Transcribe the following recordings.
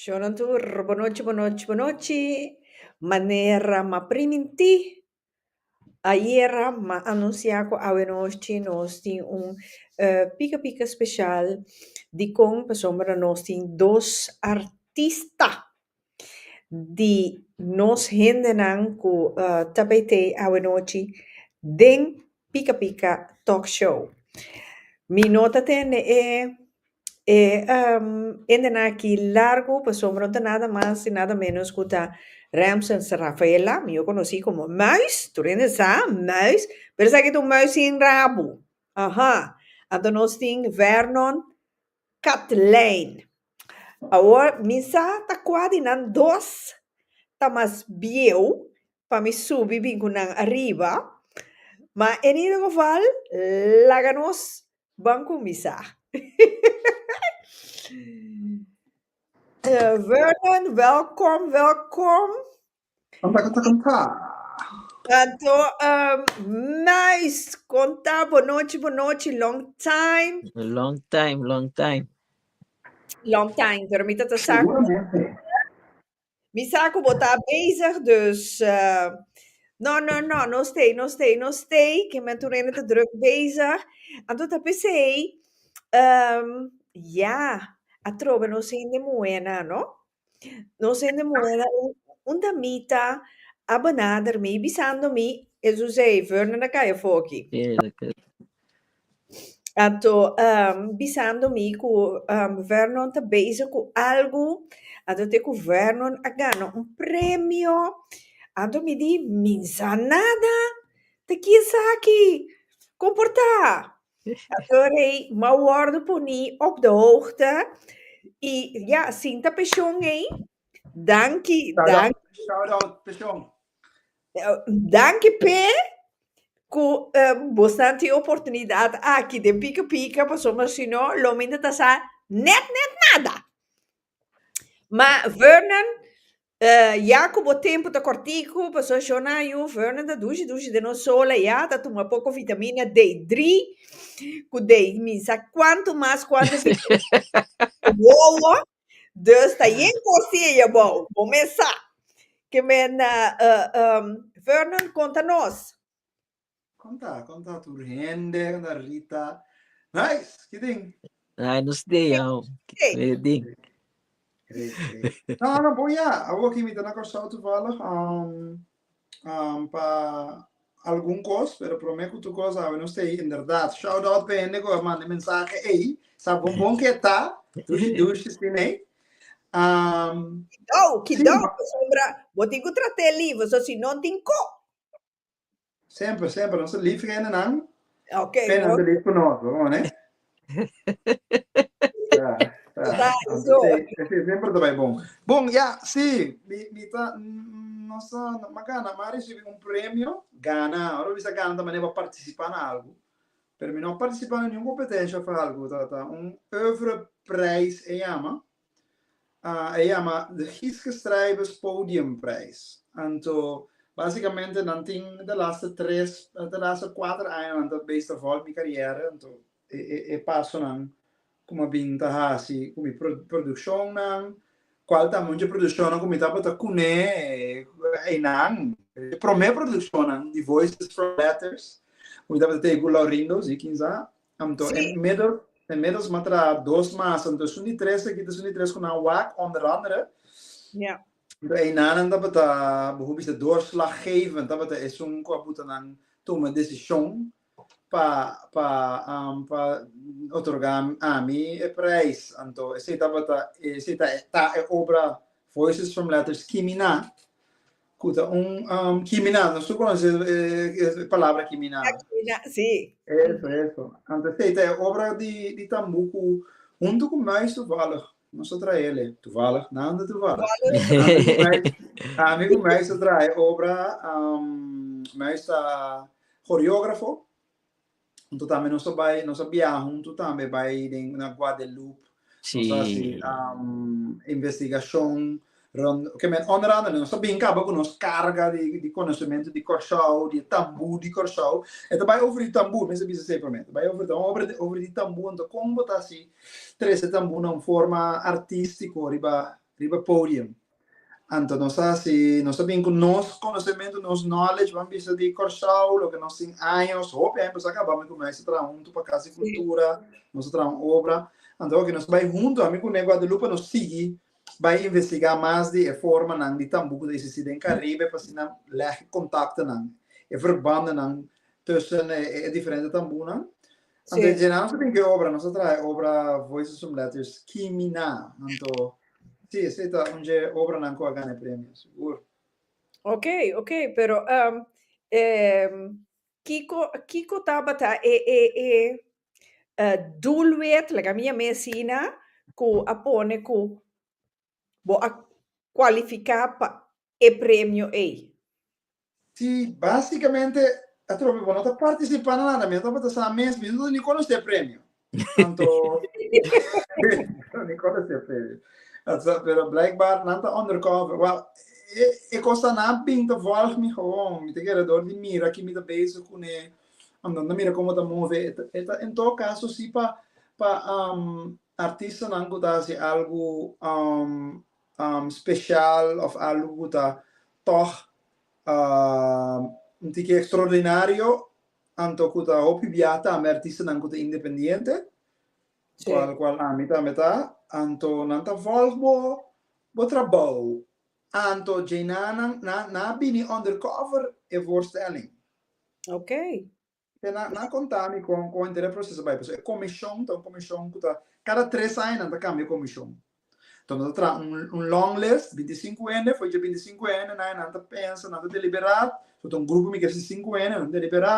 Shona tur, bonochi, bonochi, bonochi. Manera ma primintí, ayera m'a anunsiá ku awenochi nos tin un pika pika speshal. Dikon? Pasobra nos tin dos artista di nos hendenan ku ta bait'ei awenochi den Pika Pika Talk Show. Mi no ta tende e E hende nan aki largu pasobra no ta nada mas y nada menos cu ta Ramson Rafael Lam, yo conoci como Muis, tur hende sa Muis, pero esaki ta un muis sin rabu, aha, anto nos tin Vernon Katlein, awor mi sa ta cua di nan dos ta mas bieu pa mi subi bin cu nan ariba, ma en ieder geval laga nos Bon cumisá. Eh, Vernon, welkom, welkom. Kom ta kom ta. Tanto um, nice konta bonochi bonochi long time. Long time, long time. Long time, pero mi tata sa Seguramente. Mi sa cu bo ta bezig, dus no, no, no, no stay, no stay, no stay, que men tu nene ta druk bezig. Anto ta p'esey, ehm, ya, a trobe nos hende muhé nan, no? Nos hende muhé nan, un, un damita a benader mi bisando mi, Ezouzey, Vernon a kaya foki. Eerlijkheid. a to bisando mi ku Vernon ta bezig ku algu ato e ku Vernon a gana un premio ato mi di minsa nada ta kin saki kon por ta ato rei m'a wordo puni op de hoogte i ya sinta peshon ei danki danki. Danki p'e cu bosnan tin oportunidad aki den Pika Pika pasobra si no lo minte ta sa net net nada. Ma Fernand, ya cu bo tempo ta corticu pasobra sho nan a yu Fernand ta dushi dushi den nos sola ya, ta tuma poco vitamina D drie, cu dei minsa cuantu mas cuantu si wowo. Dus ta yen kosiña bou, bo mes sa ke men Fernand konta nos. Konta, konta tur hende, konta Rita. Nice, ki tin? Ai no stay au. Stay. Ke tin? Great, great. No, no, bon ya. Awor kimi ta na Kòrsou toevallig. Um, um, pa algun kos, pero prome ku tur kos awe nos tei, inderdat. Shout out pa hende ku a manda mensahe ei, sa bon bon ke ta, dushi dushi sinei. Um, Kidou, kidou, sí, sombra, bo tin ku trate lief, so si non tin ko. Semper, semper, nos lief hende nan, okay, pena no. lief ku nos, bo, ne? Ta, eso. Ese ejemplo ta bai bon. Bon, ya, si, mi, mi ta, no sa, ma gana, ma recibi un premio, gana, ora bisa gana ta mane pa participa na algo, pero mi no a participa na niun competencia of algo, ta, ta un oeuvre prijs e yama, a yama De Giske Strijbers Podium Prijs. Anto básikamente nan tin de laatste tres, de laatste kuater aña nan ta beis ta vòlt mi karièr, anto e e e pasonan ku mi a bin ta hasi ku mi pro produkshonnan, kual ta munchi produkshonnan ku mi tabata kuné einan. E promé produkshonnan di Voices from Letters, ku mi tabata tei ku Laurindo, sí, kin sa, Anto e medo e medo sma tra dos masa, anto esun di tres aki ta esun di tres ku nan wak onder andere. Ja. Anto einanan tabata boso bisa doorslaggevend, tabata esun ku a puta nan tuma desishon pa pa pa otorga ami e prijs. Anto esei tabata esei ta ta e obra Voices from Letters Kimina Cu ta un kiminal. Nos tur conoce e palabra kiminal. Si. Eso, eso. Anto esey ta e obra di Tambu cu hunto cu Muis toevallig nos ta traha e ley. Toevallig? Nada toevallig. Ami cu Muis ta traha e obra. Muis ta coreografo. Huntu tambe nos ta bai, nos a biaha huntu tambe bai den na Guadeloupe. Sí. Nos a hasi um, investigashon rond, ke men onder andere nos ta bin kaba ku nos karga di, di konosementu di Kòrsou, di e tambu di Kòrsou. E ta bai over di tambu, mester bisa asei promé. Ta bai over di, over di, over di tambu, anto kon bo ta hasi trese tambu na un forma artístiko riba, riba podium? Anto nos ta haci, nos ta bini cu nos conocementu, nos knowledge ban bisa di Corsou, loke nos tin años, hopi aña paso a caba mi cu Mei sa traha huntu pa Casa di Cultura, nos a traha un obra, anto oki nos bai huntu, ami cu Nei Guadalupe nos sigui bai investiga mas di e formanan di tambo cu ta existi den Caribe pa asina leg e contactonan, e verbandnan tussen e diferente tambonan. Anto e djena anto den ki obra, nos a traha e obra Voices from Letters Kimina. Anto, si, esei ta un dje obranan ku a gana e premio, sigur. Ok, ok, pero um, em, kiko, kiko tabata e, e, e eh, doelwit, like a mi a mesina, ku a pone ku Bo a kualifiká pa e premio ei? Sí, básikamente atrobe bo no ta partisipá na nada, mi no tabata sa mes, mi no ta ni konosé e premio. Anto no ni konosé e premio. Anto pero blijkbaar nan ta undercover. Wèl, e e kosanan bin ta vòlg mi gewoon. Mi ta kere dor di mira ki mi ta bezig kuné, anto mi ta mira komo ta move. E ta e ta en todo caso sí pa pa Artistanan ku ta hasi algu spesial òf algu ku ta tòg un tiki ekstraordinario anto ku ta hopi bia ta ami artistanan ku ta independiente, kual kual ami tambe ta, anto nan ta vòlg bo bo trabou. Anto djei nan nan a bini undercover e voorstelling. Te na na konta mi kon kon entera e proseso bai pasobra e komishon ta un komishon ku ta kada tres aña nan ta kambia komishon enton nan ta traha un un long list binti sinku hende for dje binti sinku hende nan nan ta pensa nan ta deliberá so ta un grupo mi kere si sinku hende nan ta deliberá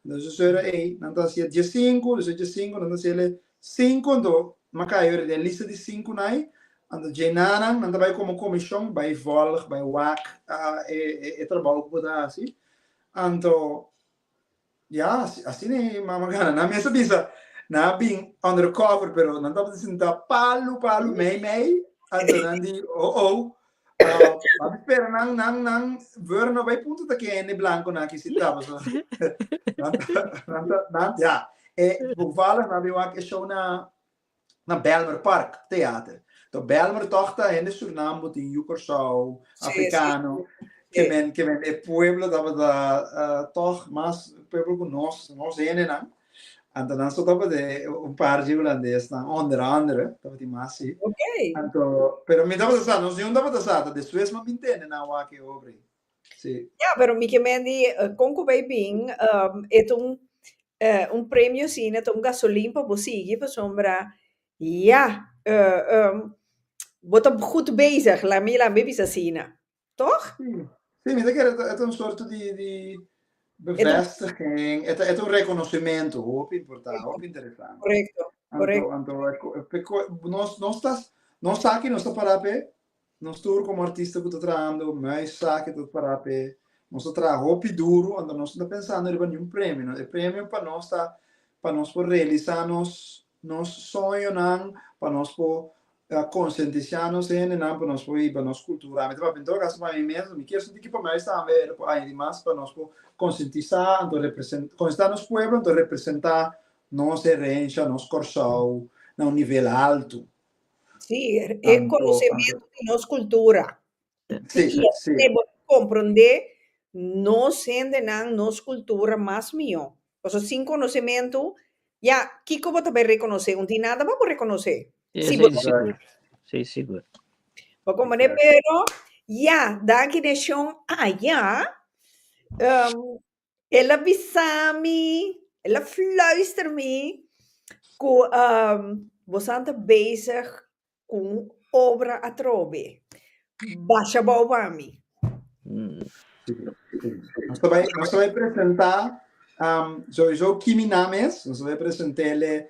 nan ta sera ey nan ta hacia dje sinku despues dje sinku nan ta hasiele sinku anto maka yori den e lista di sinku nan ai anto dje nan nan nan ta bai komo komishon bai volg bai wak e e trabou ku bo ta hasi anto Ya, asina e mama gana. Nan mester bisa, nan a bin undercover, pero nan tabata sinta palu, palu, mei, mei, anto nan di, oh-oh. Uh, mami spera nan, nan, nan, veur no bay punto ta ke hende blanco na ki si taba, so. nan, nan, nan, ya. E, bovala, nan bin wak e show na, na Bijlmer Park Theater. To Bijlmer tog ta hende Surinambo, tin yu Kòrsou, afrikano, ke men ke men e pueblo tabata tog mas pueblo ku nos nos hendenan. Anto nan so tabata un par di hulandesnan, onder andere, tabatin mas si. Anto pero mi tabata sa, nos yun tabata sa, ta despues mi a mintende nan wak e obra ei. Ya, pero mi ke men di kon ku bai bin, e ta un un premio asina, ta un gasolin pa bo sigui, pasobra ya bo ta gud bezig, laga mi bisa asina, tog? Si, mi ta kere e ta un sorto di di bevestiging, e ta e ta un rekonosementu hopi importante, hopi interesante. Korekto, korekto. Anto, anto, nos nos ta nos sa aki nos ta para p'e Nos tur komo artista ku ta trahando mei esaki ta pará p'e. Nos ta traha hopi duru, anto nos no ta pensando riba niun premio. E premio pa nos ta pa nos por realisá nos nos soñonan, pa nos por konsientisá nos hendenan pa nos por hiba nos kultura. Mi ta papia, en todo kaso, pa mi mes, mi kier sinti ku pa mei tambe e lo ku añadi mas pa nos por konsientisá anto representá konsientisá nos pueblo anto representá nos herensha, nos Kòrsou na un nivel haltu. Sí, e konosementu di nos kultura. Sí, sí. Te por komprondé nos hendenan, nos kultura mas mihó. Paso sin konosementu, ya, kiko bo ta bai rekonosé? Unti nada bo a por rekonosé. Sí, bo ta bai rekonosé. Sí, sigur. Bo komprondé? Pero, ya, daki den shon ayá, El a bisa mi, el a fluister mi cu bosan ta bezig cu un obra atrobe, basha bao pa mi. Nos ta bai, nos ta bai presenta, sowiso Kimi na mes, nos ta bai presenta el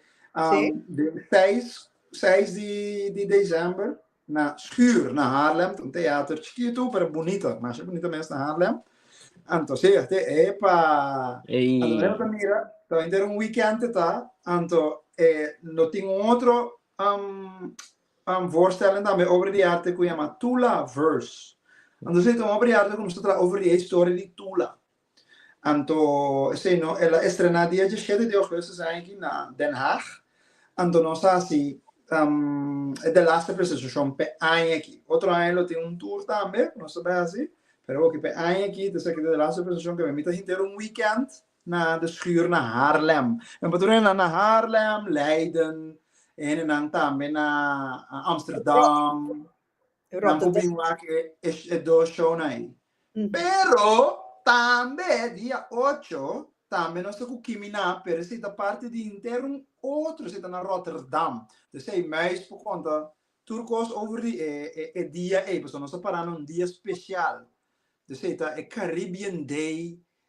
den seis, seis di, di december. Na Schuur, na Haarlem, ta un teater chikitu, pero bunita, masha bunita mes na Haarlem. Anto si esta e pa, Ei. anto maneer bo ta mira, ta henter un weekend te ta, anto e lo tin un otro um, um, voorstelling tambe over di arte ku yama Tula Verse. Anto si ta un obra di arte ku nos ta traha over di e historia di Tula. Anto esei no el a estrená dia djisiete di ougustus aña aki na Den Haag. Anto nos ta hasi e de laster presentashon p'e aña aki. Otro aña lo tin un tur tambe ku nos ta bai hasi, pero hopi p'e aña aki ta ser ku e de laster presentashon ku mi ta henter un weekend na de schuur na Haarlem. Mi por tur e hendenan na Haarlem, Leiden, e hendenan tambe na Amsterdam. Nan por bin wak e dos shownan ei. Pero, tambe dia ocho, tambe nos ta ku Kimi na, pero esei ta parti di henter un otro, esei ta na Rotterdam. P'esei, Muis por konta tur kos over di e dia ei, pasobra nos ta para na un dia spesial. P'esei ta e Caribbean Day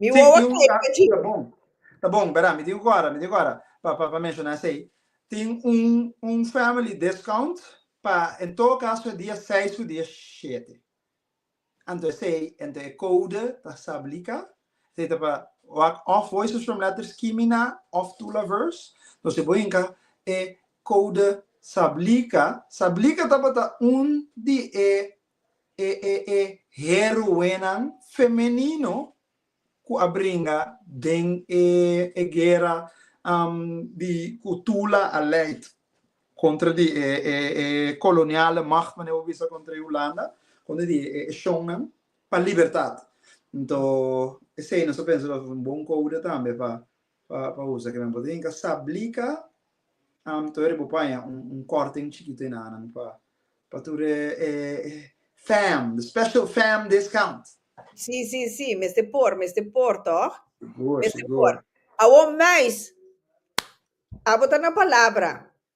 Mi Sí, wowo tin un saye ka, pechi. ta bon, ta bon, bera, mi tin ku kora, mi tin ku kora pa pa pa menshoná esei. Tin un un family discount pa en todo caso dia seis ku dia shete. Anto esei, anto e code ta sablika, esei ta pa wak òf Voices from Letters Kimina òf Tula Verse. So si bo hinka e code sablika, sablika tabata un di e e e e heroenan femenino ku a bringa den e e guera di ku Tula a leid kontra di e e e koloniale macht mane bo bisa kontra e Hulanda kontra di e e shonnan pa libertat. Nto esei nos ta pensa nos un bon kouda tambe pa pa usa kinan bo ta hinka sablica am tur e bo paña un corten chikito ena nan pa tur e fam the special fam discount. Si si si mester por mester por toch mester por awor mais abo ta na palabra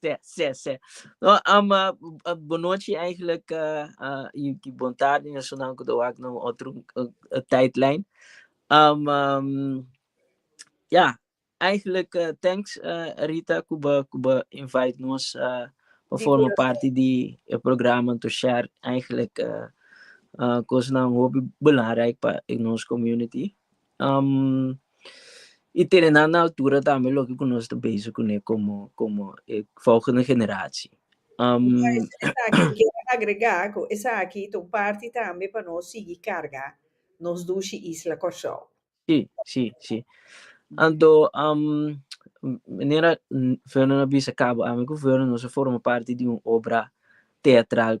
Sè, sè, sè. No, um, uh, bonochi eigenlijk, uh, i, i bon tarde, na sunan ku tawak na un otro uh, uh, tijdlijn. Um, um, ja, eigenlijk, uh, thanks uh, Rita kuba kuba invite nos uh, pa Di forma corazón. parte di e programa to share eigenlijk uh, uh, kosnan hopi belangrijk pa e nos community. Um, y tene nan na altura tambe loke cu nos ta bezig cune como, como e volgende generatie. Um, Ja, es esaki ku kier agrega ku esaki ta un parti tambe pa nos sigui karga nos dushi isla Kòrsou. Sí, sí, sí. Anto, um, manera mm, Vernon a bisa cabo ami cu Vernon nos a forma parti di un obra teatral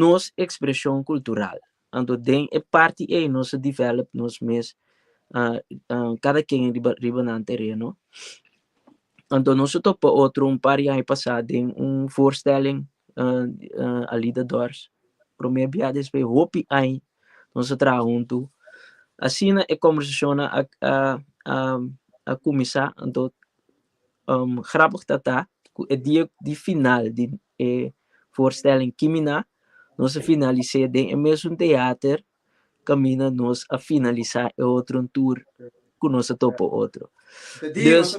nos expresion cultural anto den e parti ey nos a develop nos mes cada quien riba riba nan tereno anto nos a topa otro un par di aña pasa den un voorstelling alida dors prome bia despues hopi aña nos a traha hunto asina e conversacionnan a a a a cuminsa anto Grapig ta ta ku e dia di final di e voorstelling Kimina nos a finalis'é den e mesun teater kaminda nos a finalisá e otronan tur ku nos a topa otro. Dus,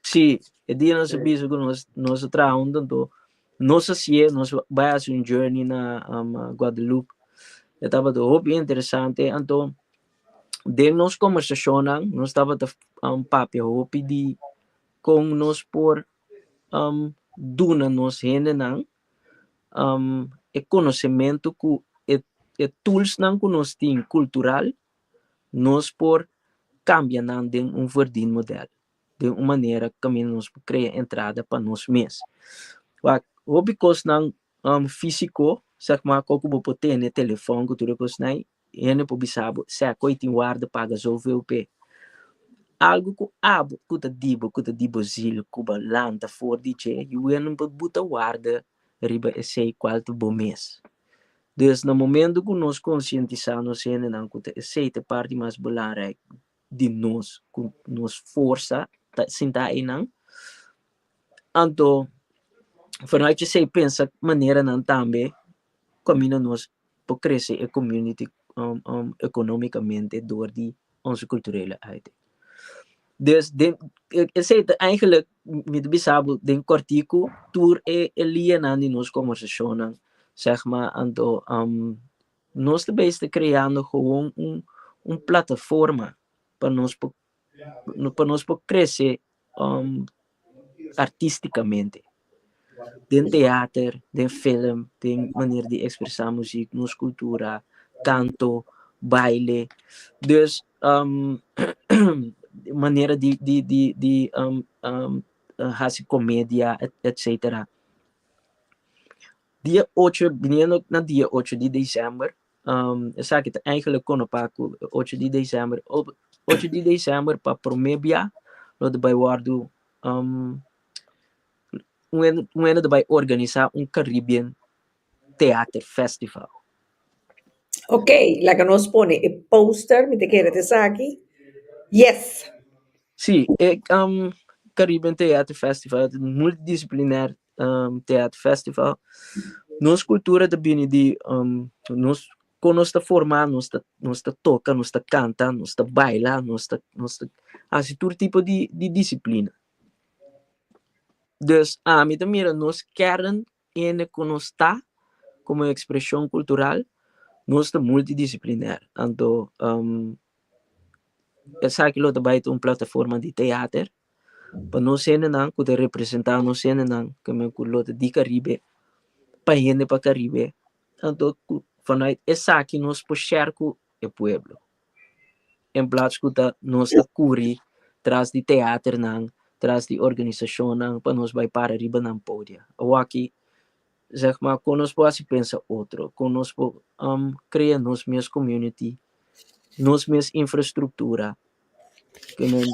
si, e dia nos a bisa ku nos a traha huntu anto nos a siña nos bai hasi un journey na Guadalupe. E tabata hopi interesante anto. Den nos kombersashonnan nos tabata papia hopi di kon nos por um duna nos hendenan um e konosementu ku e e tulsnan ku nos tin kultural nos por kambia nan den un verdin modèl den un manera ku ta mira nos por krea entrada pa nos mes wak hopi kosnan um fisiko sègmar oko bo por tene telefòn ku tur e kosnan ei E hende por bisa bo, Seco i tin warda paga zoveel p'e. Algu cu abo cu ta di bo, cu ta di bo ziel cu bo lanta for di dje y wen bo bo ta warda riba esey cual ta bo mes. Dus na momento cu nos concientisa nos hendenan cu ta esey ta e parti mas belangrijk di nos ku nos forsa ta sinta einan. Anto vanuit esei pensa maneranan tambe kaminda nos por krese e community economicamente dor di onze culturele arte. Dus den esei ta eigenlik mi ta bisa bo den kòrtiku tur e lianan di nos konversacionnan sègma anto. Nos ta bay sta creando gewoon un un plataforma pa nos por pa nos por crece um artisticamente den teater, den film, den manera di expresa muziek, nos cultura, canto, baile, dus um manera di di di di um um haci comedia etcetera. Dia ocho, biniendo na dia ocho di december, esaki ta eigenlijk kono pa ku ocho di december, ocho di december pa prome bia lo ta bai wòrdu un hende ta bai organisa un Caribbean Theater Festival. Ok, laga nos pone e poster, mi ta kere ta esaki, yes! Sí, e Caribbean Theater Festival ta multidisciplinair um, Theat Festival. Nos cultura ta bini di um, nos con nos ta forma, nos ta, nos ta toca, nos ta canta, nos ta baila, nos ta, nos ta hace todo tipo di, di disciplina. Dus a mi ta mira nos kern en con nos ta como expresión cultural, nos ta multidisciplinar. Anto um, esa que lo ta baita un plataforma di teater, pa nos hendenan ku ta representá nos hendenan kemen ku lo ta di Karibe pa hende pa Karibe anto ku fanai esaki nos por share ku e pueblo en plats ku ta nos ta kuri tras di teaternan tras di organisashonnan pa nos bai para riba nan podia awaki Zeg ma con nos por haci pensa otro, con nos por um crea nos mes community, nos mes infrastructura, cu men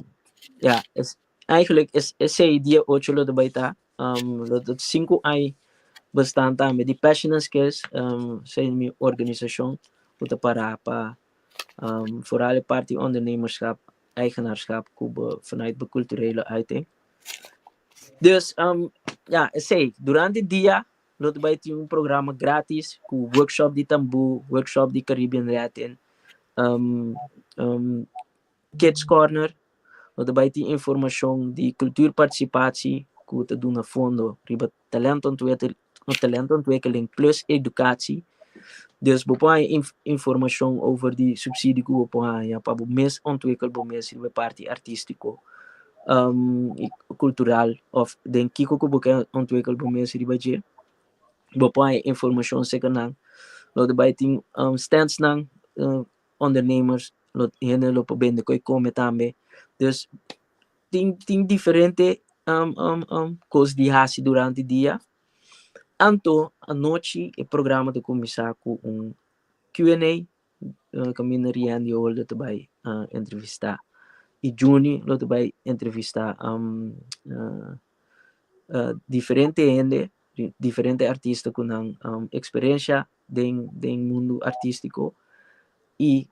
ja es eigenlijk es esey dia ocho lo ta bay ta um lo ta cinco ai bestaan tambe di Passion and Skills um esey mi organisacion cu ta para pa. foral e parti ondernemerschap eigenaarschap cu bo vanuit bo culturele ui tin dus ya esey durante e dia lo ta bay tin un programa gratis cu workshop di tamboo workshop di caribbean latin. Kids Corner, No ta bai tin informashon di kultur partisipashi ku ta duna fondo riba talento ontwikkeling no talento ontwikkeling plus edukashi. Dus bo por haña in informashon over di supsidi ku bo por haña pa bo mes ontwikkel bo mes riba e parti artistiko i kultural òf den kiko ku bo ke ontwikkel bo mes riba dje. Bo por haña informashon aserka nan. No ta bai tin stands nan ondernemers lo hende lo por bende cu e come tambe dus tin tin diferente um um um cos di haci durante dia anto anochi e programa ta cuminsa cu un Q en A caminda Riendy Holder ta bay um entrevista y Juni lo ta bay entrevista um diferente hende diferente artista cu nan experiencia den den mundo artistico y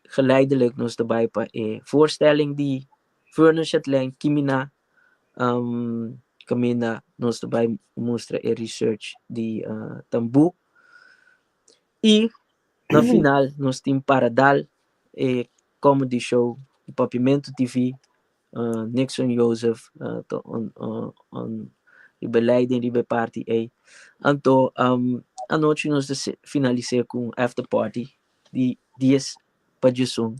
geleidelijk nos ta bay pa e voorstelling di Vernon Chatelain Kimina um caminda nos ta bay mustra e research di uh Tambu y na final nos tin para dal e comedy show Papiamento TV Nixon Joseph ta un di beleider riba e party ey. Anto anochi nos ta finalise cu un after party di dies pa djesun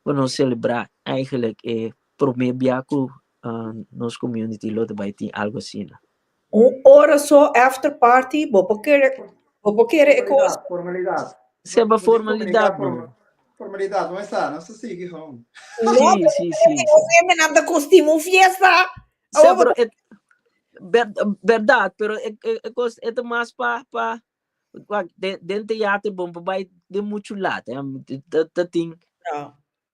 pa nos celebra eigenlek e prome bia cu nos community lo ta bay tin algo asina. Un ora so after party bo por kere bo por kere e cosa. Formalidad. Seba formalidad no. Formalidad no esa, no sa sigui hon. No pero si si si. Nos hembenan ta costima un fiesta. Sea pero e verdad pero e e cos e ta mas pa pa den den teater bon pa bai den mucho lata ta tin.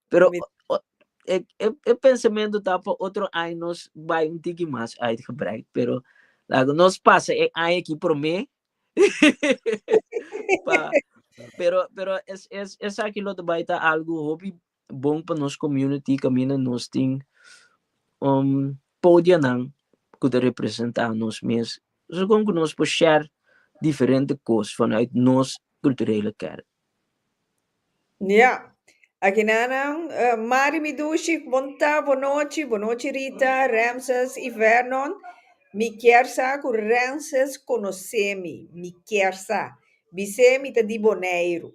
Pero Permit- o- o- e, e, e pensamento ta pa otro año nos bai un tiki mas uitgebreid, pero lago nos pasa e año ki promé. pa, pero pero es es es aquí lo te bai ta algo hopi bon pa nos community camina nos tin um podianan ku te representa nos mes. So kon ku nos po share diferente kos vanuit nos kulturele kerk. Ya. Aginananan, Mari mi dushi, Bonta, Bonochi, Bonochi Rita, Ramses i Vernon. Mi kier sa ku Ramses konosé mi. Mi kier sa. Bis'é mi ta di Boneiru.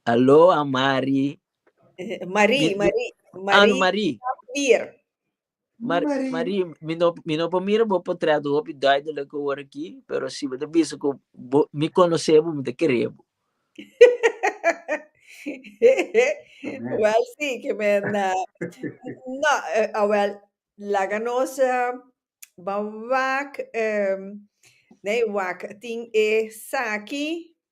Aloha, Mari. Marie, Marie. Marie Marie. Sapir. Mar Marie. Marie, mi no, mi no por mira bo portret hopi duidelijk hoor aquí, pero si bo te bisa ku bo, mi conoce bo, mi te kere bo. Wel sí, ke men na no, eh, a wel laga nos eh, ban wak, em, nee wak tin esaki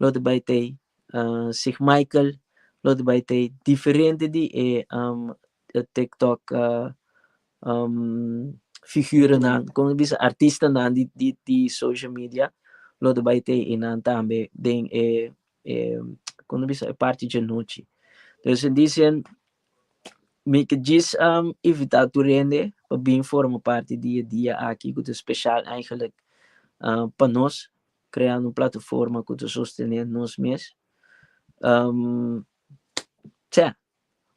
lo ta bai t'e Sig Michael lo ta bai t'e diferente di e tiktok figuronan como ta bisa artistanan di di di social media lo ta bai t'e enan tambe den e e como ta bisa e parti djanochi entonces dicen mi ta djis invita tur hende pa bin forma parti di e dia aki cu ta special eigenlijk pa nos creando un plataforma cu ta sostene nos mes tse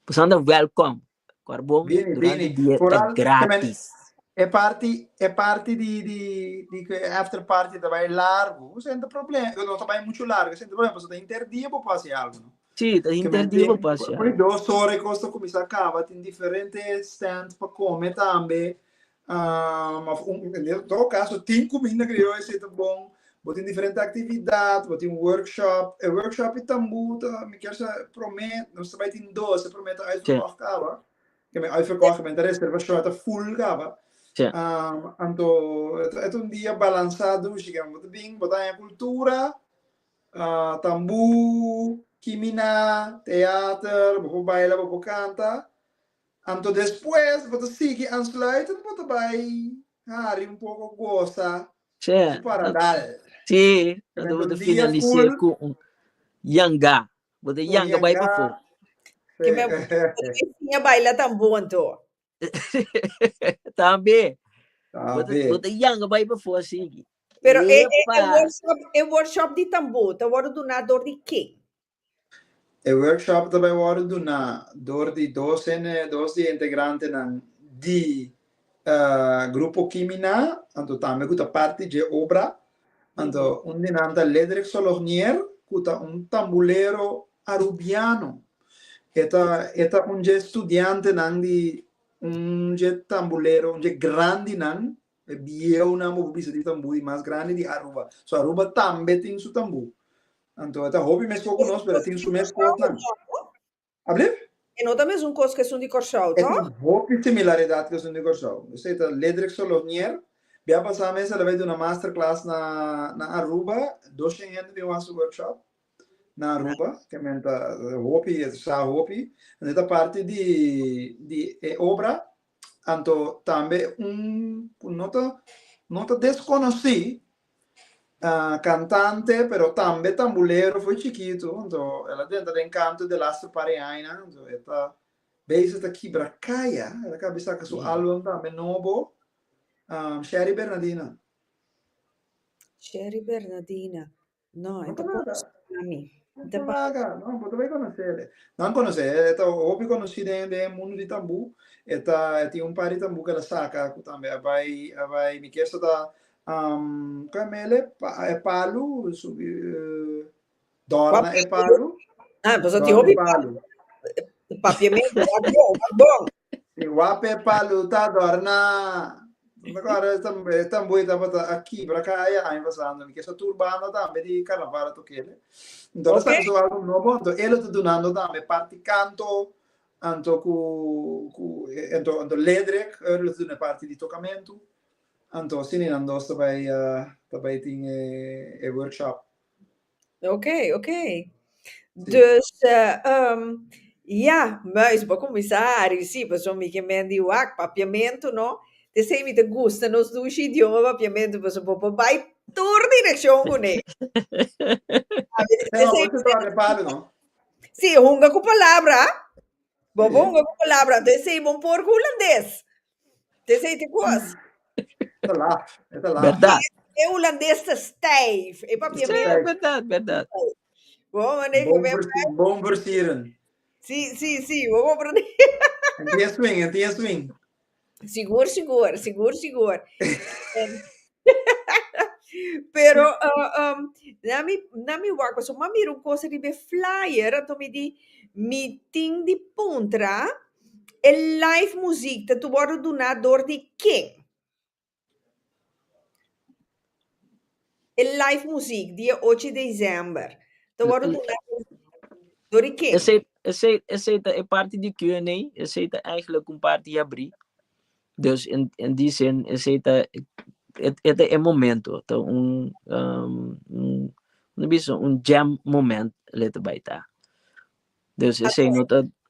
bosan ta welcome Kòrbou durante dia ta gratis. E parti e parti di di di cu e after party ta bay largo no senter problem no ta bay mucho largo no senter problem pasobra ta inter dia bo por haci algo no. Si ta inter dia bo por haci algo. Por ey dos ora e cos ta cuminsa caba tin diferente stand pa come tambe ma en todo caso tin cuminda crioyo esey ta bon, bo tin diferente actividad, bo tin workshop, e workshop y tambo ta mi kier sa prome nos ta bay tin dos, e prome ta uitverkocht caba, kier men uitverkocht kier men ta reservacion ta full caba, anto e ta un dia balansa dushi kier bo ta bin bo ta haya cultura, tambo, kimina, theater, bo por baila, bo por canta, Anto despues bo ta sigui aansluiten bo ta bai hari un poco gosa su paradal. Sí, anto bo ta finalisé cu un yanga, bo ta yanga bai pafó. Ki me bo ta enseña baila tambo anto. Tambe, bo ta yanga bai pafó asiki. Pero e workshop di tambo ta worde duna dor di ken? E workshop ta bai wòrdu duná dor di dos hende, dos di e integrantenan di Grupo Kimina, anto tambe ku ta parti dje obra. Anto un di nan ta Ledrek Solognier, ku ta un tambulero arubiano. E ta e ta un dje studiantenan di un dje tambulero, un dje grandinan, e bieunan bo por bisa di tambu di mas grandi di Aruba. So Aruba tambe tin su tambu. Anto e ta hopi meskos ku nos pero e tin su mes kosnan. Ablip? E no ta mesun kos ku esun di Kòrsou, E tòg? tin hopi similaridad ku esun di Kòrsou. Esei ta Ledrek Solonier. Bia pasá mes el a bai duna masterclass na na Aruba. Doshen hende bin wak su workshop na Aruba. Ke men ta hopi, e sa hopi. Anto e ta parti di di e obra Anto tambe un ku no ta no ta deskonosí kantante pero tambe tambulero for chikitu anto el a drenta den kantu de laster par di añanan so e ta bezi ta kibra kaya el a kabe di saka su album tambe nobo Sherry Bernadina. Sherry Bernadina No, e ta conosí na mi. Bo ta paga, no, bo ta bay conoce el. Nan conoce, e ta hopi conoci den den e mundo di tambu, e ta e tin un par di tambu cu el a saca cu tambe a bay a bay mi kier sa ta cu a mele pa e palu subi dora na e palu, Ah, boso tin dora hopi e palu. paviamento, wak bon, wak bon. Si wape palu ta adorna. Agora esta esta boi ta bota aqui para cá ya año pasado ni que so turbano tambe di carnaval to kele. Entonces Ok. sa so algo nobo anto elo ta dunando tambe parti canto anto ku ku anto anto ledrek elo ta duna parti di tocamento anto sini nan dos ta bai ta bai tin e e workshop. Oké, oké. Sí. Dus, eh, um, ja, muis, bo comisá a risi, paso mi que men di wak, papiamento, no? Te sei mi te gusta nos dushi idioma papiamento, paso bo bo bai tur dirección cune. A ver, te Pero sei mi te te traje pare, no? Sí, hunga cu palabra, bo bo Sí. hunga cu palabra, te sei bon por cu holandés. This ain't the course. Esa laf, esa laf. Berdad. E Hulandes ta stijf. E papiamento Stijf. Berdad, berdad. stijf. Bo bo prende Bon comer versi- pijp. bon versieren. Si, si, si. Bo bo prende. En tin e swing, en tin e swing. Sigur, sigur. Sigur, sigur. En- Pero, uh, um, na mi, na mi wak, paso ma mira un cosa riba e flyer, anto mi di, mi tin di puntra, E live muziek ta wordo duna door di ken? E live muziek di e ocho di december ta wordo duna door di ken? Esey esey esey ta e parti di Q and A, esey ta eigenlijk un parti ya abri, dus en en di zin esey ta e e ta e momento, ta un un bisa un jam moment lei ta bai ta. Dus esey no ta.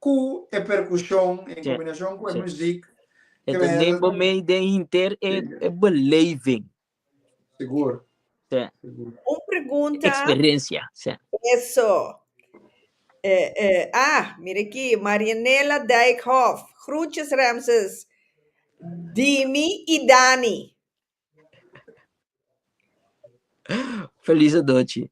Ku e perkushon en kombinashon ku e muzik krea e ritmo. Sigur. Un pregunta. Eso. A, mira aki, Marianela Dijkhof, Groetjes Ramses, Dimi i Dani. Feliz adochi.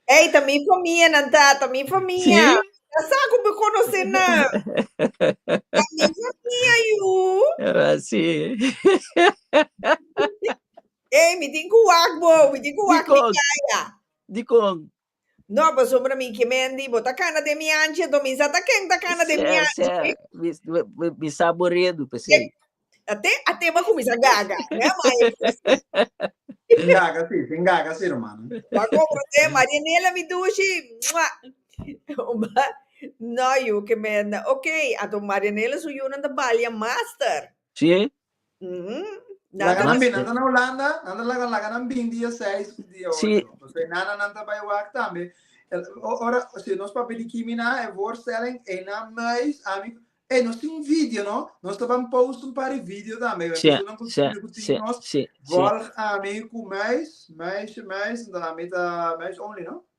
Ei, ta mi famia nan ta, ta mi famia. Ta sa ku be konosé nan. Ta mi famia yu. Era si. Ei, mi tin ku wak bo, mi tin ku wak mi yaya. Dikon? No, pasobra mi ke men di bo ta kana den mi anchi, anto mi sa ta ken ta kana den mi anchi. Sè, sè, mi, mi, mi sa bo redu pesei. Ate, ate bo a kuminsá gaga, mi a maestra. Sin gaga si, sin gaga si, rumannan. Bo a kompra te, Maria Nela mi dushi, mua. Oba, no, yu ke men, ok, anto Maria Nela su yunan ta balia master. Si, Laga nan bini, nan ta na Hulanda, nan ta laga laga nan bini dia seis ku dia ocho. Pasobra e nana nan ta bai wak tambe. Ora, si nos papia di kimi na e voorstelling, einan mais, ami, ei, nos tin video no, nos ta ban post un par di video tambe, wèn personan ku skirbi ku tin nos, volg ami ku mais, meisje, mais, dan ami ta mais only no.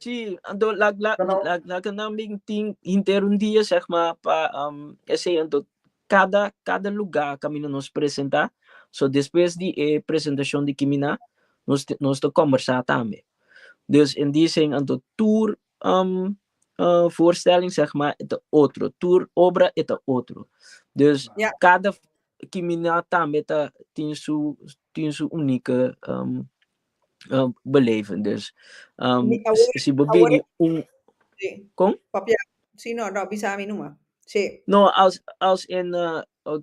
Sí, anto la la la la ke nan bin tin henter un dia seg ma pa um, esei anto kada kada luga kaminda nos presenta so despues di e presentashon di kimina nos te nos ta kombersa tambe dus en di seng anto tur um uh voorstelling seg ma e ta otro tur obra e ta otro dus Ya. kada kimina tambe ta tin su tin su unike um uh, beleven. Dus um, Mi awor, si bo awor bini un... Sí. Kom? Papia, sí, no, no, bisa mi numa. Sí. No, als, als en uh, uh,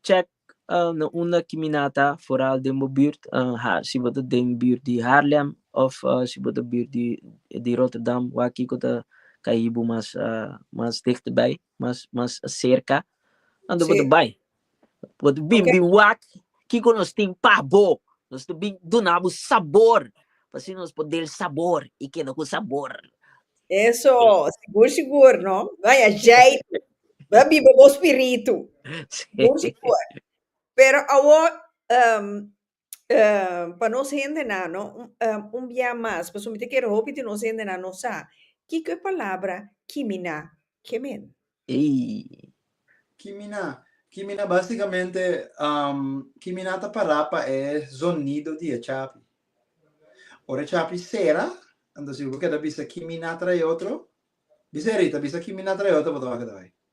check uh, na una kiminata foral den bo buurt, uh, ha, si bo ta den buurt di Haarlem of uh, si bo ta buurt di, di Rotterdam, waar kiko ta kaibo mas, uh, mas dichterbij, mas, mas cerca, dan bo Sí. ta bai. Bo ta bin bin wak kiko nos tin pa bo. Nos ta bin duna bo sabor, pa asina nos por del sabor i keda ku sabor. Eso, sigur sigur no. Bay ajeiti, bay biba bo spiritu. Sigur sigur. Pero awor, pa nos hendenan no un bia mas pasobra mi ta kere hopi di nos hendenan no sa kiko e palabra kiminá kemen. Ei. Kiminá, kiminá básikamente kiminá ta pará pa e zonido di e chapi. Ora e chapi sera, anto si bo keda bisa kiminá trae otro, bisa e Rita, bisa kiminá trae otro bo ta wak keda bai.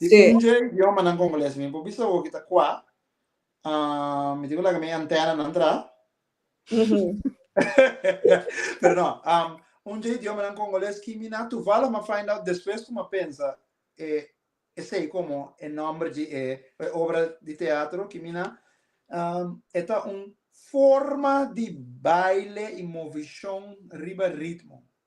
Di Sí. un dje idiomanan congoles mi por bisa bo ki ta cua. Ah, mi tin cu laga mi antenanan tra. Pero no, um, un dje idiomanan congoles ki mi na tuvalo ma find out despues cu ma pensa e, esei como e nombre dje e, e obra di teatro ki mi na um, e ta un forma di baile y movicion riba ritmo.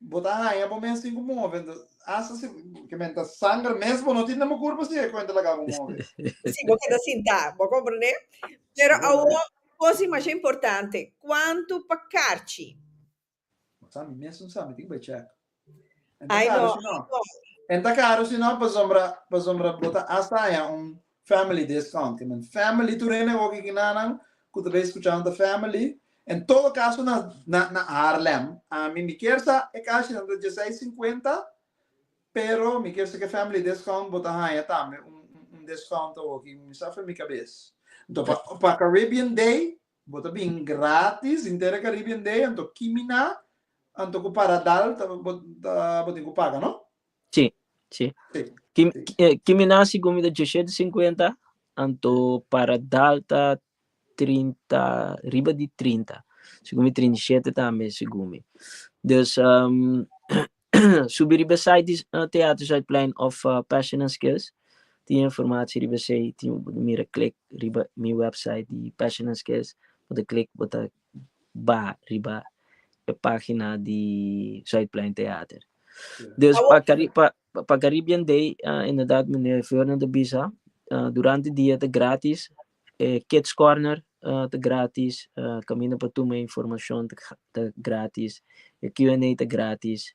Bo ta haña bo mes tin ku move, entos hasta si ke men ta sanger mes bo no tin den bo kurpo si e kuenta laga bo move. Si bo keda sintá, bo komprendé? Pero awo kosi masha importante, kuantu pa karchi? Bo sa mi mes no sa, mi tin ku bai chèk. Ai no, ai no. E ta karu si no pasobra pasobra bo ta hasta haña un Family des kant, i men family tur hende oki kinanan ku ta bai skuchanan ta family. En todo kaso na na na Haarlem. Ami mi kier sa e kashinan ta djesei sinkuenta, pero mi kier sa ku e family des kant bo ta haña tambe un un des kant oki, mi sa femi kabes. Anto pa pa Caribbean day bo ta bin gratis inter e Caribbean day, anto kimina anto ku paradal ta bo ta bo tin ku paga no. Sí, sí. Kim, eh, Kimina según mi da 250, anto para Dalta 30, riba di 30. Según mi 37 también, según mi. Dus, um, subi riba site di uh, Theater Zuidplein of uh, Passion and Skills. Tin informatie riba sei, tin mira klik riba mi website di Passion and Skills. Bota klik, bota ba riba e pagina di Zuidplein Theater. Dus pa Cari pa pa Caribbean Day inderdaad meneer Fernand a bisa durante e dia ta gratis, e Kids Corner ta gratis, caminda pa tuma e informacion ta gratis, e Q&A ta gratis,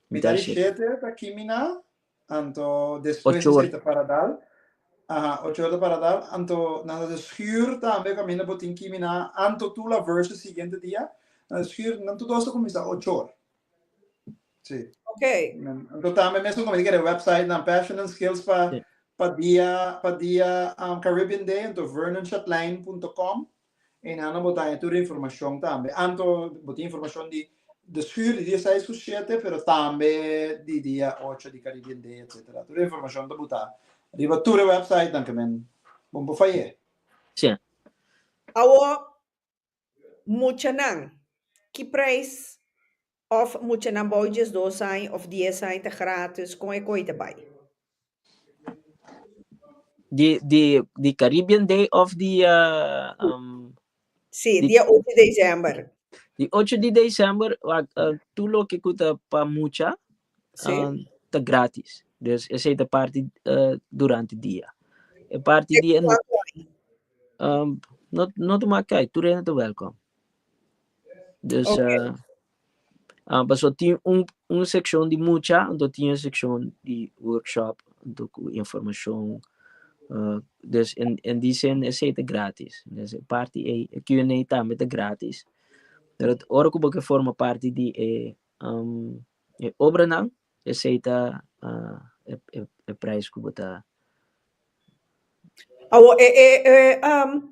Mi ta di shete ta kimina anto despues di seta para dal aha ocho ora ta para dal anto nan ta haci schuur tambe cu aminda bo tin kimina anto tur la verse siguiente dia nan haci schuur nan tur dos ta cuminsa ocho ora si okay anto tambe mesun como tig'e website nan passion and skills pa pa dia pa dia Caribbean day anto vernonshatline punto com Ena nan bo taña tur informashon tambe, anto bo tin informashon di de schuur di dia seis ku shete, pero tambe di dia ocho di Caribbean Day etsetera. Tur e informashon ta butá riba tur e wèpsaitnan ku men bon por fay'é. Sí. Awor, muchanan, ki preis Of muchanan bou diesdos aña of dies aña ta gratis con e cohete bay. Di di di Caribbean Day of di um. Si, di dia ocho di december. Di ocho di december tur loke cu ta pa mucha si. um, ta gratis. Dus esey ta parti uh, durante dia. E parti di e um, no no ta mak kay, tur hende ta welcome. Dus Ok. eh, ah, paso tin un, un seccion di mucha, anto tin e seccion di workshop, anto cu informacion. eh, dus en, en di zin esey ta gratis. Dus e parti ey, e Q&A tambe ta gratis. Pero t- ora cu bo ke forma parti di e, um, e obranan, esey ta ah, e, e, e prijs cu bo ta. Awo, e, e, e, um,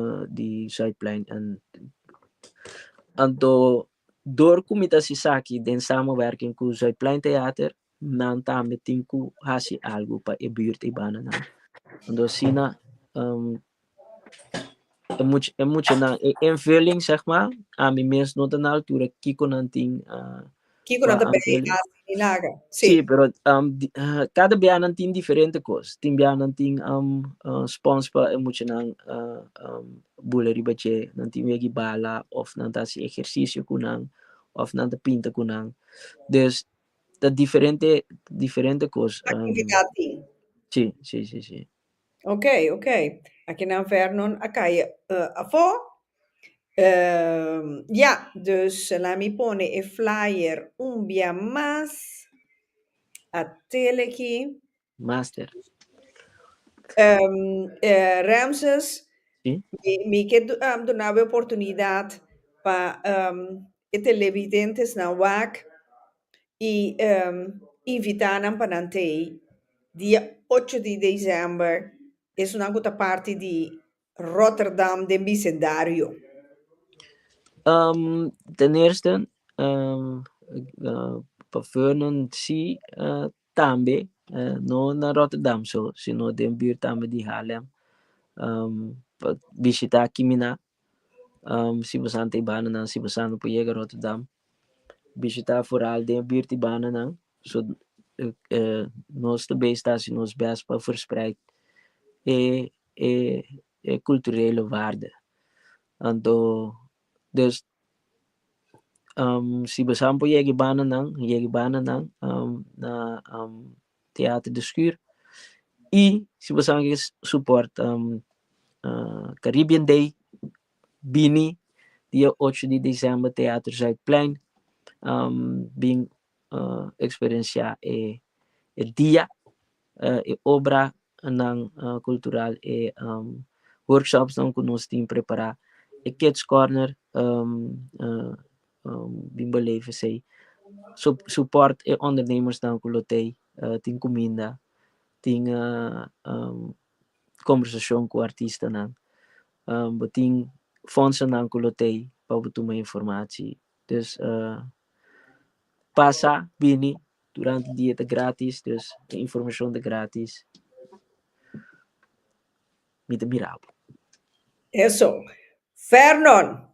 uh, di Zuidplein en anto dor ku mi ta hasi esaki den samenwerking ku Zuidplein Theater nan tambe tin ku hasi algu pa e buurt Ibana nan anto asina um, e much e muchanan e invulling zeg ma ami mes no ta na altura kiko nan tin uh, Kiko nan ta bay haci milagro? Sí. Sí, pero um, di, uh, cada bianan tin diferente cos. Tin bianan tin um, uh, spons pa e muchanan uh, um, bule riba dje, nan tin wegi bala, of nan ta haci ejercicio cu nan, of nan ta pinta cu nan. Dus, ta diferente, diferente cos. Um, Actividad tin. sí, sí, sí, sí. Ok, ok. Aki nan Vernon a kaya afó. Ya, dus laat mi pone e flyer un bia mas. A tele aki. Master. Ramses, mi ke duna bo e oportunidad pa e televidentesnan wak. i invitá nan pa nan tei dia ocho di desèmber, esunnan ku ta parti di Rotterdam den bisendario. Den eerste pa veunan sí tambe, no na Rotterdam so, sino den buurt tambe di Haarlem pa bishitá Kimina Si bo santa e bananan si bo sa no por yega Rotterdam bishita afural den e bir di bananan so nos ta bes ta hasi nos bes pa verspreid e e e culturele waarde anto dus si bo sa no por yega e bananan yega e bananan na Teater de Schuur y si bo sa nan ke support Caribbean Day bini dia ocho di december Teater Zuidplein bin experiencia e dia e obra Nan Cultural e workshopsnan cu nos tin prepara. E Kids Corner bin beleve esey. Support e ondernemersnan cu lo tey. Tin cuminda, tin conversacion cu artistanan. Bo tin fondsennan cu lo tey pa bo tuma informatie. This uh pasa bini durante dia ta gratis this e informacion ta gratis mi ta mira bo. Eso. Fernand,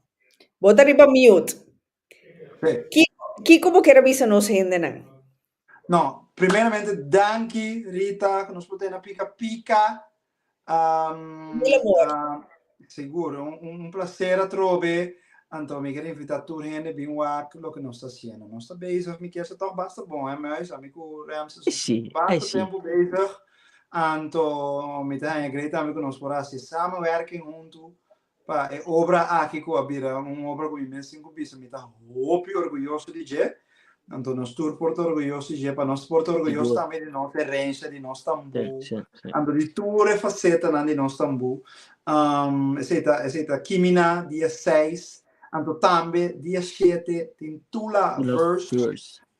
bo ta riba mute. Kiko, kiko bo kier a bisa nos hendenan? No, primeramente danki Rita cu nos por tene pica pica. Mil amor. Seguro, un placer atrobe. Anto mi quiero invita tur hende bin wak loke nos ta haciendo. Nos ta bezig, mi kier sa tok basta bon he muis, ami cu Ramses nos ta basta tempo bezig. Anto mi ta haña grei tambe cu nos por haci samenwerking hunto pa e obra aki ku a bira un obra ku mi mes tin ku bisa mi ta hopi orguyoso di dje. Anto nos tur por ta orguyoso di dje, pa nos por ta orguyoso tambe di nos erensha, di nos tambú, anto di tur e fasetanan di nos tambú. Esei ta esei ta Kimina dia seis, anto tambe dia shete tin Tula Verse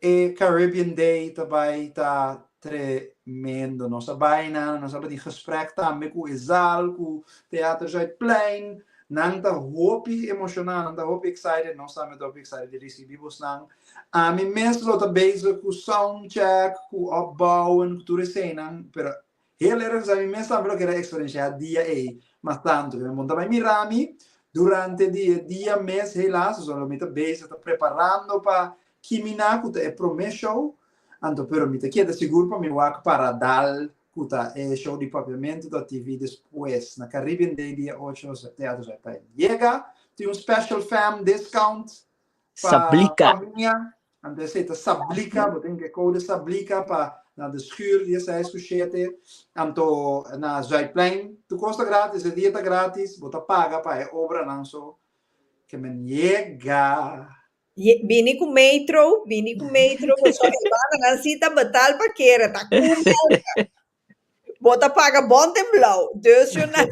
E Caribbean Day ta bai ta tremendo. Nos a bai nan, nos a bin gesprek tambe cu e zaal cu Theater Zuidplein. Nan ta hopi emocioná, nan ta hopi excited, nos tambe ta hopi excited di ricibi bosnan. Ami mes lo ta bezig cu soundcheck, cu opbouwen, cu tur e senan, pero Heel ergens a mi mes tambe lo keda eksperenshia dia ei mas tantu. Bai monta bai mira mi durante di e dia mes helaas so lo mi ta bezig ta preparando pa kimina ku ta e prome show anto pero mi ta keda sigur pa mi wak para dal ku ta e show di Papiamento ta TV despues na Caribbean Day dia ocho Teatro Zuidplein. Yega tin un special fam discount Sablika. Familia, anto esei ta sablika, bo tin ke kou de sablika pa na de schuur di e seis ku shete, anto na Zuidplein, tur kos ta gratis, e dia ta gratis, bo ta paga pa e obranan so, ke men yega. Bini ku metro, bini ku metro, bo so e bananan si ta betal pa kere, ta kumbia, Bo ta paga bon den blauw, dus yo na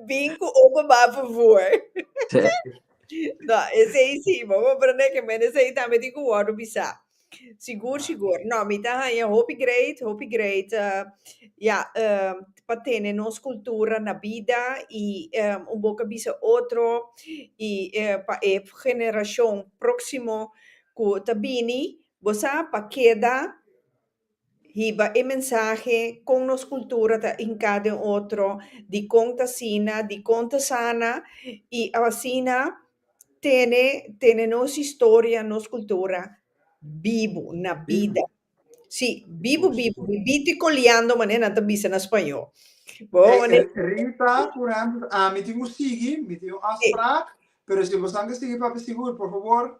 bin cu open ba por voer. No, esey si, bo por prende que men esey tambe tin cu wordo bisa. Sigur, sigur. No, mi ta haya hopi great, hopi great, ya, pa tene nos cultura na bida y un boca bisa otro y pa e generacion proximo cu ta bini, bo sa, pa keda. Hiba e mensahe kon nos kultura ta hinká den otro, dikon ta asina, dikon ta sana i asina tene tene nos historia, nos kultura bibu na bida. Sí, bibu bibu, bibito i koleando manera nan ta bisa na spañó. Bo hoba manera. E Rita, por ehemplo, ami tin ku sigui, mi tin un afspraak, pero si bosan ke sigui papi sigur, por fabor.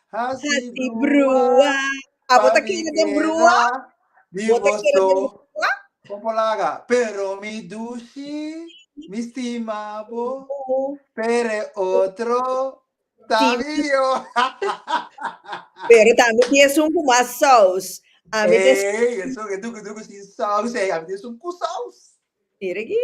Hasi brua, abo ta kere den brua? Bo ta kere den brua? Popo laga, pero mi dushi, mi stima bo, pere otro ta mio. Pero ta mi di esun ku mas sous. Ami ta Ey, esun, e duku duku sin sous ey, ami di esun ku sous. Mira aki.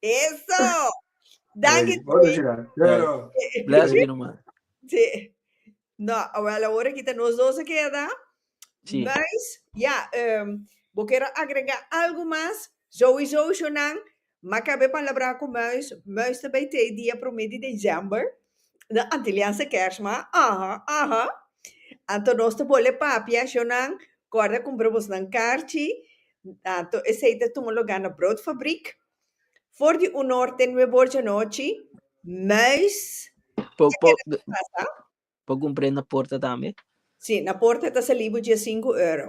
Eso! Danki Ey, otro Tony. chirá. Yo, Ey, yo. bless mi numa. Sí. No, awel ahora kita nos dos a keda. Sí. Nice. Ja, em, bo quiero agregar algo más. Zoe Jojo nan, ma cabé palabrá cu Muis. Muis ta bay tei dia promé di december. na antilianse kers ma aha aha anto nos ta bole papi ashonan corda cumpra bos nan karchi anto esey ta tuma loga na brood fabrik for di un norte nue borchi anochi muis po po po cumpre na porta tambe si na porta ta salibo dies sinku euro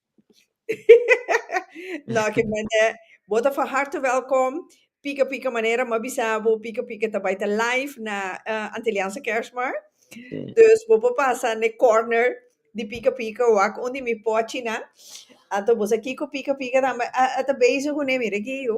No ke manera, bo ta van harte wèlkom, pika pika manera mi a bisa bo, pika pika ta bai ta live na Antilliaanse Kerstmarkt, dus bo por pasa na e kòrner di pika pika wak unda mi pòchinan, anto bo sa kiko pika pika tambe a ta bezig kuné, mira aki yu.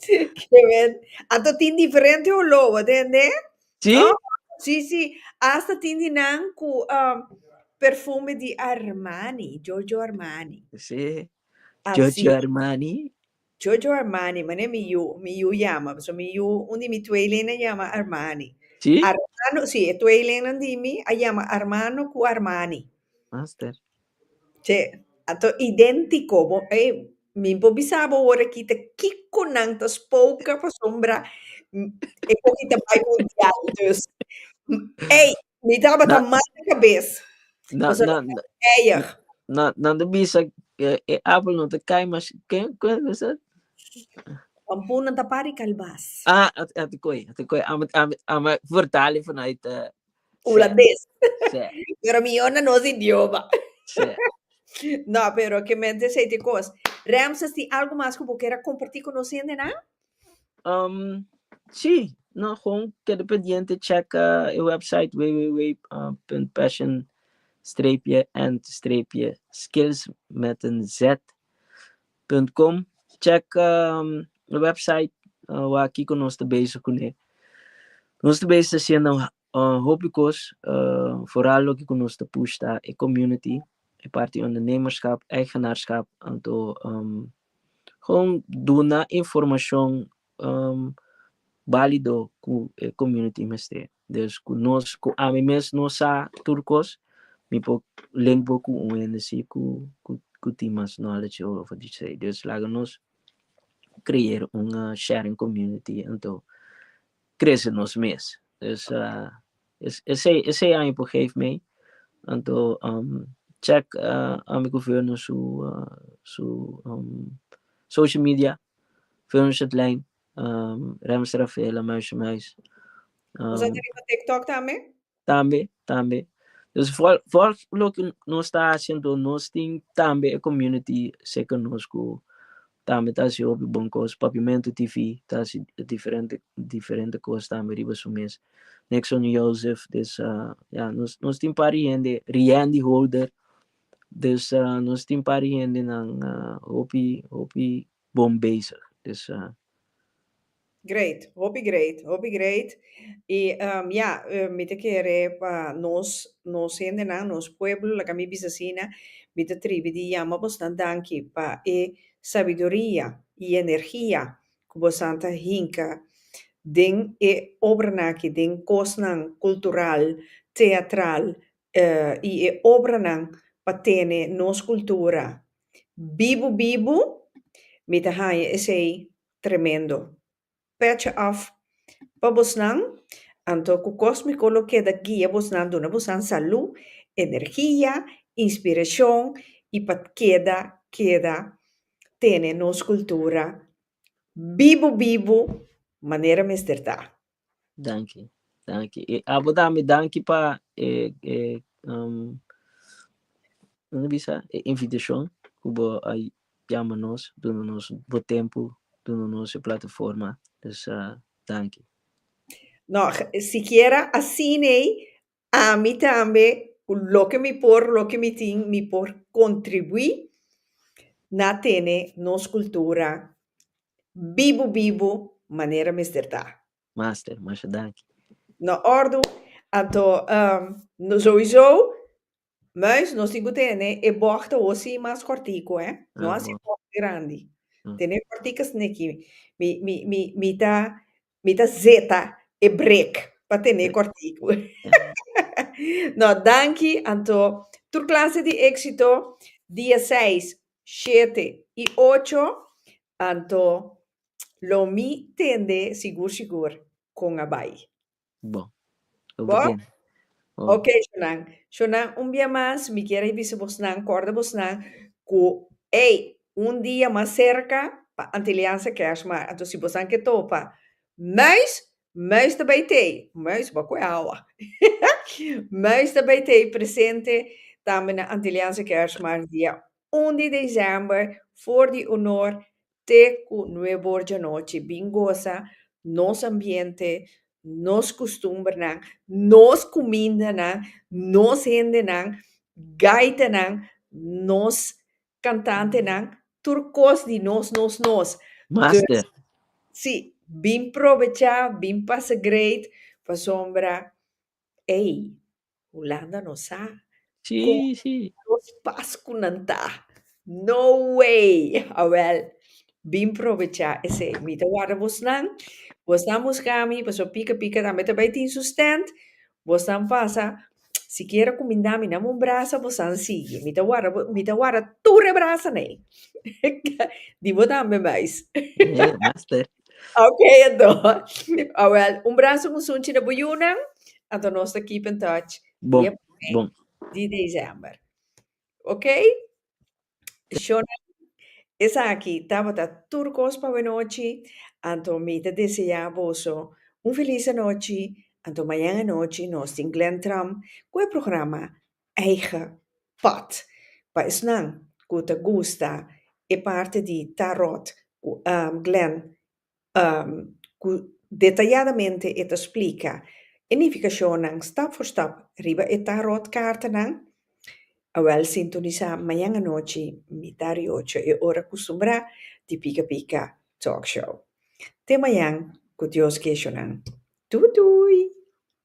Quiero ver. Anto tin diferente oló, bo tende? Sí? Oh, sí, sí. Hasta tin di nan cu um, perfume di Armani, Giorgio Armani. Sí. Así. Giorgio Armani. Giorgio Armani, mané mi yu, mi yu llama. So mi yu, un di mi tweelinnan llama Armani. Sí? Armano, sí, e tweelinnan di mi a llama Armano cu Armani. Master. Che a ta idéntiko bo e mi por bisa bo ora aki ta kiko nan ta spoke pasobra e koki ta bai mundial. Dus, ey, mi tabata Na- mal di kabes. Na, Pasobra na, mi na, tabata eyer. na, nan ta bisa e, e apel no ta kai mas. Ke, ke we sa? Pampun nan ta pari kalbas. Ah, a, a te koi, a te koi. Ame, ame, ame vertali vanuit eh, Hulandes. Sí. Pero mihor na nos idioma. Sí. No, pero que mente sei te cos. Ramses, tin algo mas cu bo kera comparti cu nos hendenan? Um, sí, no, gewoon keda pendiente checa e website www.passion streepje and streepje skills met een z. Website.com, Cheka e website wak kiko nos ta bezig kuné. Nos ta bezig hasiendo hopi kos foral loke ku nos ta pushta e community, e parti di ondernemerskap, eigenaarskap anto kon duna informashon balido ku e komuniti mester. Des ku nos, ku ami mes no sa tur kos, mi por link bo ku un hende si ku ku tin mas knowledge over di trade. Des laga nos creer un sharing komuniti anto krese nos mes. Des esei esei aña por geef mei anto check ami governor su su social media Filmshed Lijn, Rems Rafaela, Meisje Meisje. Nos a ta riba TikTok tambe? Tambe, tambe. Dus volg, volg loke nos ta hasi anto nos tin tambe e community seken nos ku tambe ta hasi hopi bon kos. Papiamento TV ta hasi diferente diferente kos tambe riba su mes. Nixon Joseph, dus a ya nos nos tin un par di hende, Riendy Holder. Des nos tin pari hendenan hopi hopi bon bezig. Dus a. Great, hopi great, hopi great. I ya, mi ta kere pa nos, nos hendenan, nos pueblo, laga mi bisa asina, mi ta tribi di yama boso nan danki pa e sabiduria i energia ku bosonan ta hinka den e obranan aki, den kosnan kultural, teatral, y e obranan pa tene nos cultura bibu bibu mi ta haya esey tremendo pecha off pa bosnan anto cu Cosmico lo keda guia bosnan duna bosan salu energia inspiracion y pa keda keda tene nos cultura bibu bibu manera mester ta. Danki, danki. E abo tambe danki pa e e um kiko ta bisa e invitashon ku bo a yama nos duna nos bo tempu duna nos e plataforma dus danki. No, sikiera asina ei Ami tambe, cu loke mi por, loke mi tin, mi por contribui na tene nos cultura bibu bibu manera mester ta. Master, masha danki. Na ordu. Anto, souiso, Muis, nos tin cu tene e bocht awo si mas cortico, he. No a si bocht grandi. Tene e corticas neki. Mi, mi, mi, mi ta, mi ta zeta e break pa tene e cortico. No, danki anto. Tur clase di exito dia seis, shete y ocho, anto lo mi tende sigur, sigur con a bay. Bo. Bo? Bo den. Oh. Ok, shownan. Shownan, un bia mas mi kier a bisa bosnan, kòrda bosnan ku ei, un dia mas serka pa Antilianse Kèrsmaar. Anto si bosan ke topa muis, muis ta bai t'ei. Muis bo kue awa. Muis ta bai t'ei presente tambe na Antilianse Kèrsmaar dia un di desèmber for di onor Te ku nuebe or dianochi bin gosa nos ambiente, nos kustumbernan, nos kumindanan, nos hendenan, gaitanan, nos kantantenan, tur kos di nos, nos, nos. Master. Dus, si, bin probechá, bin pasa great, pasobra Ey, Hulanda no sa con Shishi. dos pas cu nan ta. No way! Awel, bin probecha esey. Mi ta warda bosnan. Bosnan busca mi pasobra Pika Pika tambe ta bay tin su stand. Bosnan pasa, si quiere cuminda mi, dame un brasa, bosnan sigui. Mi ta warda bo, mi ta warda tur e brasa n'ey. Di bo tambe mais. Hee, master. Ok, Ado. Ah, wel, un brazo musunchi na bo yunan. Anto nos ta keep in touch. Bon, Dia p'e bon. di december. Ok? Shona, esaki tabata tur cos pa bo nochi. Anto mi ta desea boso un feliz anochi. Anto mañan anochi nos tin Glen Tram cu e programa eigen pot pa esnan cu ta gusta e parte di Tarot cu Glenn cu detayadamente e ta splica e nificacionnan stap for stap riba e Tarot cartanan, awel sintonisa mañan anochi mita di ocho e ora custumbrá di Pica Pica Talk Show. Te mañan cu Dios gueshonan. Tutu!